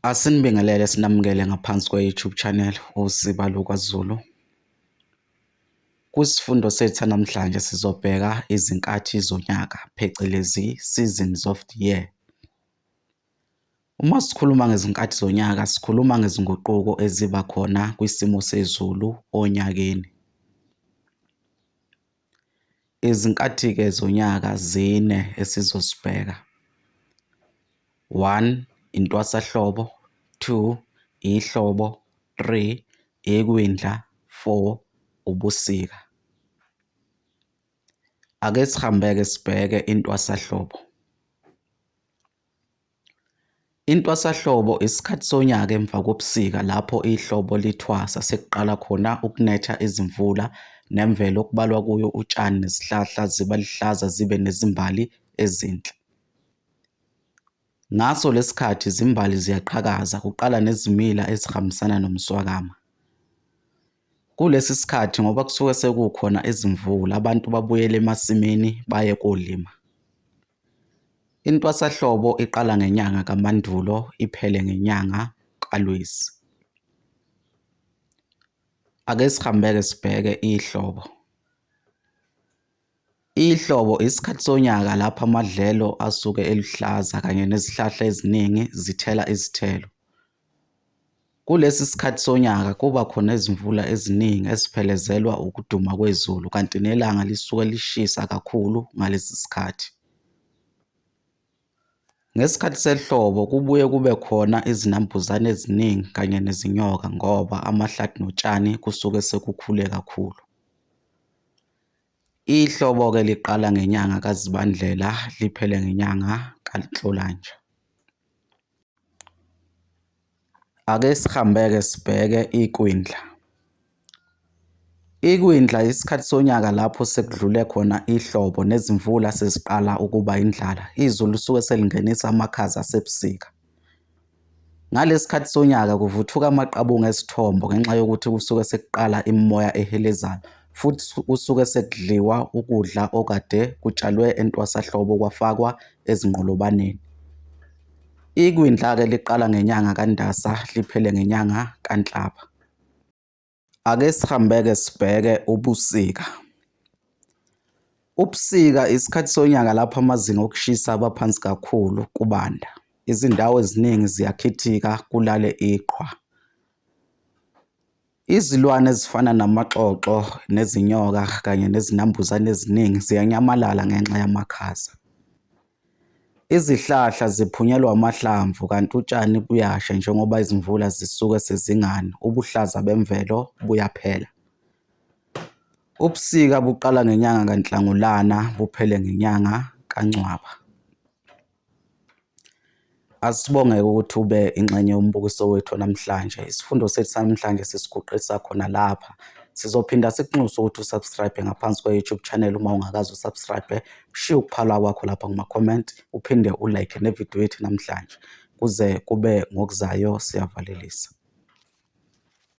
Asinibingelele sinamukele ngaphansi kwe-YouTube channel uZiba LukwaZulu. Kwisifundo sethu sanamhlanje sizobheka izinkathi zonyaka phecelezi seasons of the year. Uma sikhuluma ngezinkathi zonyaka sikhuluma ngezinguquko eziba khona kwisimo sezulu onyakeni. Izinkathi-ke zonyaka zine esizozibheka, one, intwasahlobo, two, ihlobo, three, ikwindla, four, ubusika. Ake sihambe-ke sibheke intwasahlobo. Intwasahlobo isikhathi sonyaka emva kobusika lapho ihlobo lithwasa sekuqala khona ukunetha izimvula nemvelo okubalwa kuyo utshani nezihlahla ziba luhlaza zibe nezimbali ezinhle. Ngaso lesi sikhathi izimbali ziyaqhakaza kuqala nezimila ezihambisana nomswakama. Kulesi sikhathi ngoba kusuke sekukhona izimvula abantu babuyele emasimini baye kolima. Intwasahlobo iqala ngenyanga kaMandulo iphele ngenyanga kaLwezi. Ake sihambe-ke sibheke ihlobo. Ihlobo isikhathi sonyaka lapho amadlelo asuke eluhlaza kanye nezihlahla eziningi zithela izithelo. Kulesi sikhathi sonyaka kuba khona izimvula eziningi eziphelezelwa ukuduma kwezulu kanti nelanga lisuke lishisa kakhulu ngalesi sikhathi. Ngesikhathi sehlobo kubuye kube khona izinambuzane eziningi kanye nezinyoka ngoba amahlathi notshani kusuke sekukhule kakhulu. Ihlobo-ke liqala ngenyanga kaZibandlela liphele ngenyanga kaNhlolanja. Ake sihambe-ke sibheke ikwindla. Ikwindla isikhathi sonyaka lapho sekudlule khona ihlobo nezimvula seziqala ukuba indlala, izulu lisuke selingenisa amakhaza asebusika. Ngalesi sikhathi sonyaka kuvuthuka amaqabunga ezithombo ngenxa yokuthi kusuke sekuqala imimoya ehelezayo futhi kusuke sekudliwa ukudla okade kutshalwe entwasahlobo kwafakwa ezinqolobaneni. Ikwindla-ke liqala ngenyanga kaNdasa liphele ngenyanga kaNhlaba. Ake sihambe-ke sibheke ubusika. Ubusika isikhathi sonyaka lapho amazinga okushisa aba phansi kakhulu kubanda. Izindawo eziningi ziyakhithika kulale iqhwa. Izilwane ezifana namaxoxo nezinyoka kanye nezinambuzane eziningi ziyanyamalala ngenxa yamakhaza. Izihlahla ziphunyelwa amahlamvu kanti utshani buyasha njengoba izimvula zisuke sezingani, ubuhlaza bemvelo buyaphela. Ubusika buqala ngenyanga kaNhlangulana buphele ngenyanga kaNcwaba. Asibonge-ke ukuthi ube ingxenye yombukiso wethu wanamhlanje. Isifundo sethu sanamhlanje sisiguqisa khona lapha. Sizophinda sikunxuse ukuthi u-subscribe-e ngaphansi kwe-YouTube channel uma ungakaze u-subscribe-e. Ushiye ukuphala kwakho lapha kuma-comment, uphinde u-like ne-video yethu namhlanje. Kuze kube ngokuzayo, siyavalelisa.